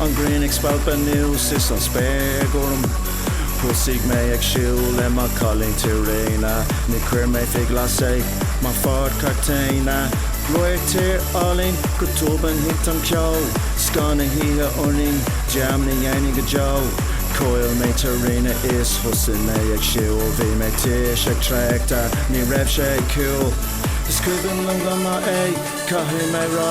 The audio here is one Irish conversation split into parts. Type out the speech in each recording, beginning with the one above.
An ghrian ag spalpadh anuas is an spéir gorm Thosaigh mé ag siúl le mo chailín Tarina Níor chuir mé fé ghlas é mo Ford Cortina Radharc tíre álainn, go tobann thit an ceo Scáth na hoíche orainn, dearmad ní dhéanfainn go deo Chaill mé Tarina is thosaigh mé ag siúl Bhí mé tuirseach traochta, ní raibh sé cool Is cuimhin liom go maith é, caithfidh mé rá.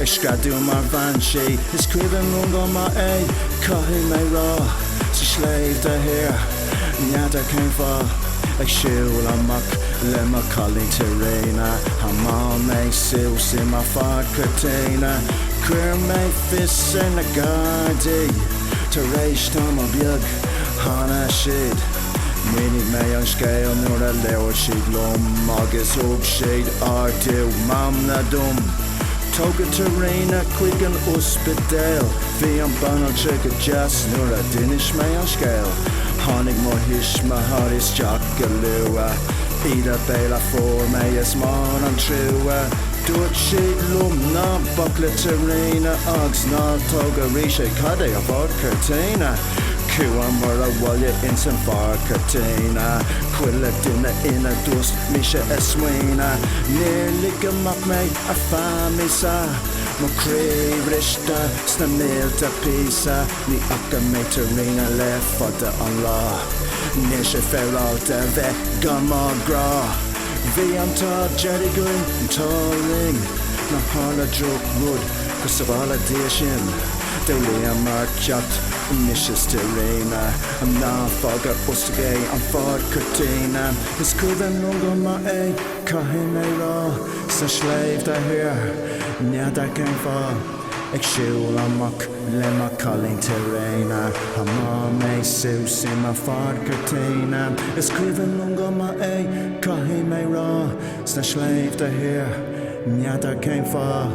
Ag screadadh mar bhean sí, is cuimhin liom go maith é, caithfidh mé rá, sna sléibhte thiar, n'fheadar cén fáth, ag siúl amach le mo chailín Tarina, thiomáin mé suas i mo Ford Cortina, chuir mé fios ar na gardaí, tar éis tamall beag tháinig siad. Mhínigh mé an scéal nuair a labhair siad liom agus thug siad ardú meanman dom. Tógadh Tarina chuig an ospidéal. Bhí an banaltra go deas nuair a d'inis mé an scéal. Tháinig mo thuismitheoirí isteach go luath. Íde béil a fuair mé is mór an trua. Dúirt siad liom ná bac le Tarina agus ná tóg arís é go dtí an Ford Cortina. Chuamar abhaile ins an Ford Cortina, Chuile duine ina dtost mise ag smaoineamh, Níor ligeadh amach mé ar feadh míosa, Mo chroí briste sna mílte píosa, Ní fhaca mé Tarina le fada an lá, Níl sé féaráilte bheith gan mo ghrá, Bhí an t-ádh dearg againn, an t-ádh linn, Nár tharla drochrud go sabhála Dia sinn, D'fhoghlaimíomar ceacht anois is Tarina ná fág ar oscailt é an Ford Cortina is cuimhin liom go maith é caithfidh mé rá sna sléibhte thiar n'fheadar cén fáth ag siúl amach le mo chailín Tarina thiomáin mé suas i mo Ford Cortina is cuimhin liom go maith é caithfidh mé rá sna sléibhte thiar n'fheadar cén fáth